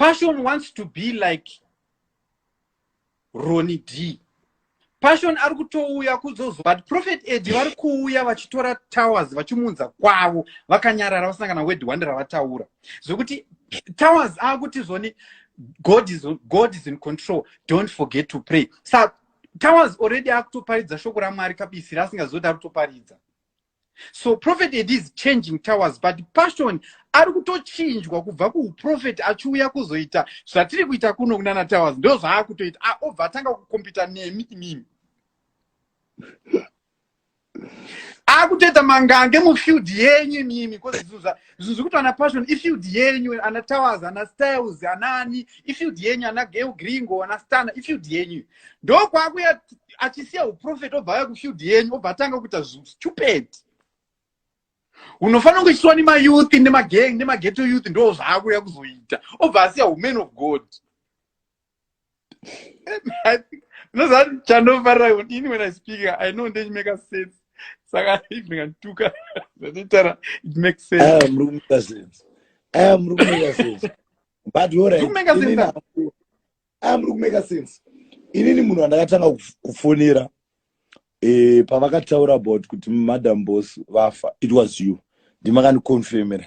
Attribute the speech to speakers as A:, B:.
A: Passion wants to be like Ronnie D. Passion ari kutouya kuzozo but Prophet Ed vari kuuya vachitora towers vachimunza kwavo vakanyarara vasina kana word one ravataura. zvekuti towers akuti zvoni god is, god is in control don't forget to pray sa towers already akutoparidza shoko ramwari kabisi raasingazoti ari kutoparidza so prophet ed is changing towers but passion ari kutochinjwa kubva kuuprofeti achiuya kuzoita zvatiri kuita kuno kunana towers ndo zvaakutoita obva atanga kukompita nemi imimi akutoita mangange mufield yenyu imimi bcause zvinhu zvekuti ana passion ifield yenyu ana towers ana styles anaani ifield yenyu ana geo gringo ana stana ifield yenyu ndokwakuya achisiya uprofet obva aya kufield yenyu obva atanga kuita stupid unofanira kuchitsiwa nemayouth nemagang nemageto youth ndo zvaakuya kuzoita obva asiya uman of god ndozati chandofarira kuti ini when i speak i know ndechimeka sense saka if ndikandituka zvatitara it makes sense aya muri kumeka sense
B: aya muri kumeka sense but yorai aya muri kumeka sense inini munhu wandakatanga kufonera e, pavakataura about kuti madam bos vafa it was you ndimakandiconfirmera